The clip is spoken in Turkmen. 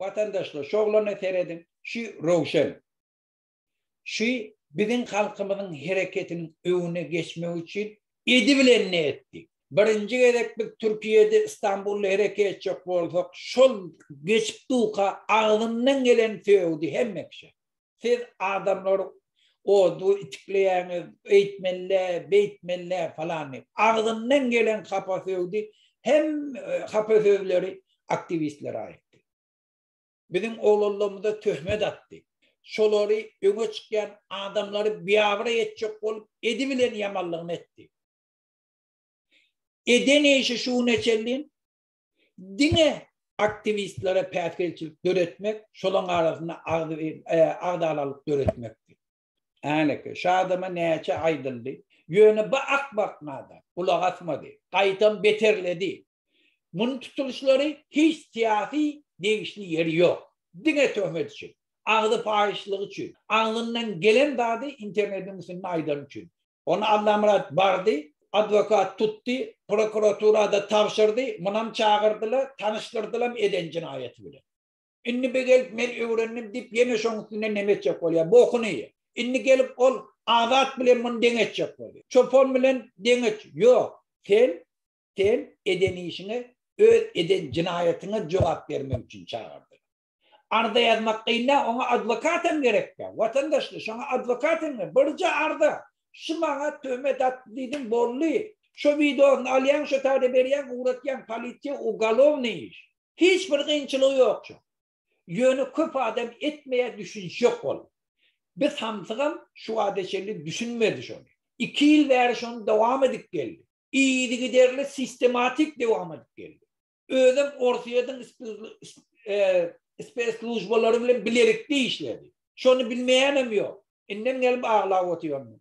Watandaşlar şu oglana serediň, şu Rowşen. Şu biziň halkymyzyň hereketiniň öňüne geçmek üçin edi bilen ne etdi. Birinji gezek biz Türkiýede Istanbulda hereket etjek bolsak şol geçip duka agzyndan gelen sögdi hemme kişä. siz adamlary odu itikleýäňiz, öýtmelle, beýtmelle falan diýip. Agzyndan gelen hapa söwdi hem e, hapa sözleri aktiwistler aýtdy. Biziň oglanlarymyza töhmet atdy. Şolary öňe çykýan adamlary biabra etjek bolup edi bilen ýamanlygyny etdi. Eden işi şu güne çenli diňe aktiwistlere päsgelçilik döretmek, şolaň arasynda agzalalyk döretmekdi. Häneki, şu adama näçe aýdyldy, ýöne bu akmak nadan gulak asmady, gaýtam beterledi. Muny tutulyşlary hiç syýasy degişli ýeri ýok. Diňe töhmet üçin, agzy paýyşlygy üçin, agzyndan gelen zady internetiň üstünde aýdany üçin. Ony Allamyrat bardy, adwokat tutdy, prokuraturada tabşyrdy, munam çagyrdylar, tanyşdyrdylam eden jinaýaty bilen. Indi bir gelip men öwrendim diýip ýene şoň üstünden neme etjek bolýar, bokuny ýe. Indi gelip ol Azat bilen muny deň etjek bolýar. Çopan bilen deň et, ýok. Sen, sen eden işiňe, öz eden jinaýatyňa jogap bermek üçin çagyrdylar. Arza ýazmak gyn däl, oňa adwokat hem gerekdä. Watandaşly, şoňa adwokat hem gerek. Birje arza, şu maňa töhmet atdy diýdiň, boldy. Şo wideosyny alýaň, şo taýda berýäň, ugratýaň, polisiýa, ugalownyý iş. Hiç bir gynçylygy ýokjy. Ýöne köp adam etmeýär, düşünişýok ol. Bir samsygam şu wagta çenli düşünmedi şony. Iki ýyl bäri şony dowam edip geldi. Yzygiderli, sistematik dowam edip geldi. özem Orsýetiň speslužbalary bilen bilelikde işledi. Şony bilmeýänem ýok. Indem gelip aglap otyryn.